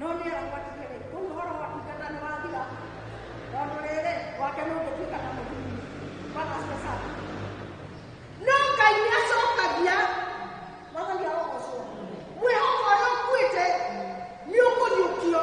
No nĩ aragwatirie rĩ, kũu ũhoro wa kũingata nĩ wathira, tondũ rĩrĩ, gwake nĩ ũngĩtuĩka na mũthuri. Bwana asifiwe sana. No Ngai nĩ acokagia mwathani arogocwo. Mwĩhoko ũrĩa ũkuĩte nĩ ũkũriũkio.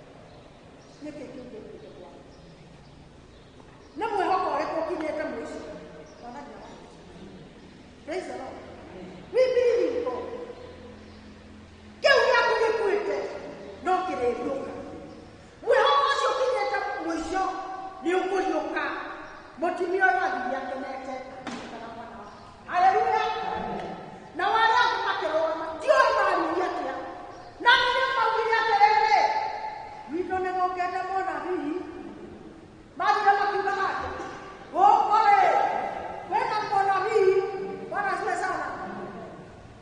nä kä kä ngä kä kwa nä mwä hoko å rä kå kinyä te mwä cio mwathani wa Praise the Lord. We believe in God. Kĩu gĩaku gĩkuĩte no kĩrĩriũka. Mwĩhoko ũcio ũkinyĩte mũico nĩ ũkũriũka. Mũtumia ũyũ athiĩ akenete kana mwana wake. Haleluya. Na wale ambao makĩrũgama ndio maaririe atĩa. Na nĩ maugire atĩrĩrĩ, witũ nĩ gũkĩte mũnabii. Mathire makiuga atĩ, gũkũ-rĩ, kwĩna mũnabii, Bwana asifiwe sana.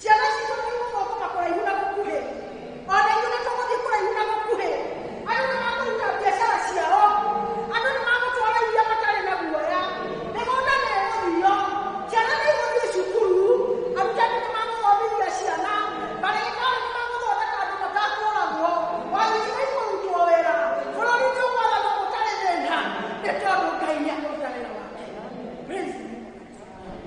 ciana citũ nĩ igũthũkũma kũraihu na gũkuhĩ ona ithuĩ nĩ tũgũthiĩ kũraihu na gũkuhĩ andũ nĩ makũruta biacara ciao andũ nĩ magũtwara iria matarĩ na guoya mĩgũnda nĩ ĩgũthio ciana nĩ igũthiĩ cukuru arutani nĩ magũthomithia ciana marĩgĩtarĩ nĩ magũthondeka andũ matakũragwo wabici nĩ ikũrutwo wĩra bũrũri nĩ ũgwathana gũtarĩ thĩna nĩ tondũ ngai nĩ akũruta wĩra wake Praise the Lord.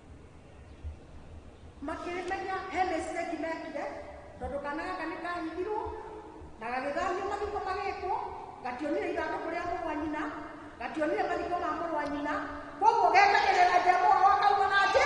makĩrĩmenya he mistake mekire tondũ kana gaka nĩ kahithirwo na gagĩthamio mathiko magĩkwo gationire ithandũkũ rĩa mũrũ wa nyina gationire mathiko ma mũrũ wa nyina koguo gekagĩrĩra jehova wakauma na njĩ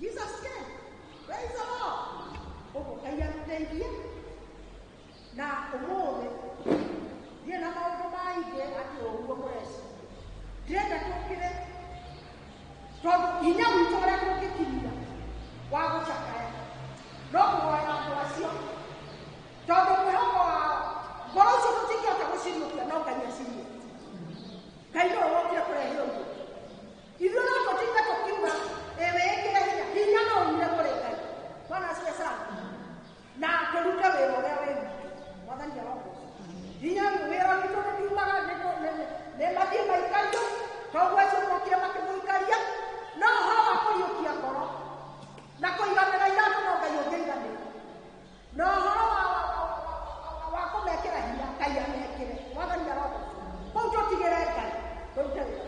Jesus came. Praise the Lord. Ũmũkai amũteithie. Na ũmũthĩ ndiĩ na maũndũ maingĩ atĩ ũguo mũreci. Ndĩrenda tũkĩre tondũ hinya witũ ũrĩa tũngĩkinyia wa gũcakaya no kũhoya andũ acio tondũ mwĩhoko wao ngoro icio tũtingĩhota gũciriũkia no ngai aciriũkia ngai nĩwe wokire kũrehe ũguo Ithuĩ no tũtinde tũkiuga ĩ wĩĩkĩre hinya hinya no umire kũrĩ ngai bwana asiwe sana na tũrute wĩra ũrĩa wĩ witũ mwathani arogoca hinya wĩra witũ nĩtiumaga nĩ mathiĩ maikario koguo acio mokire makĩmũikaria no ũhoro wa kũriũkia ngoro na kũiganĩra iratũ no ngai ũngĩiganĩra na ũhoro wa- wa- wa- wa- wa- wa kũmekĩra hinya ngai amekĩre mwathani arogũcũra kũu tũtigĩre ngai tũrute wĩra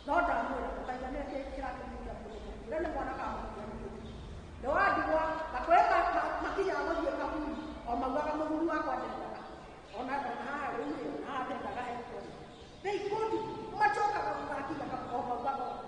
no ndamwĩra ndũkaiga nĩ kĩ kĩratũmĩria mũndũ ũrĩa nĩ mwana kamũkĩra nĩ wandigwa na kwĩ ma- ma- makinya gũthiĩ kaburi o maugaga mũthuri wakwa ndendaga ona ona haha rĩu rĩ ona haha ndendaga ekwo they go to macokaga gũgakinya kaburi o maugaga ũguo.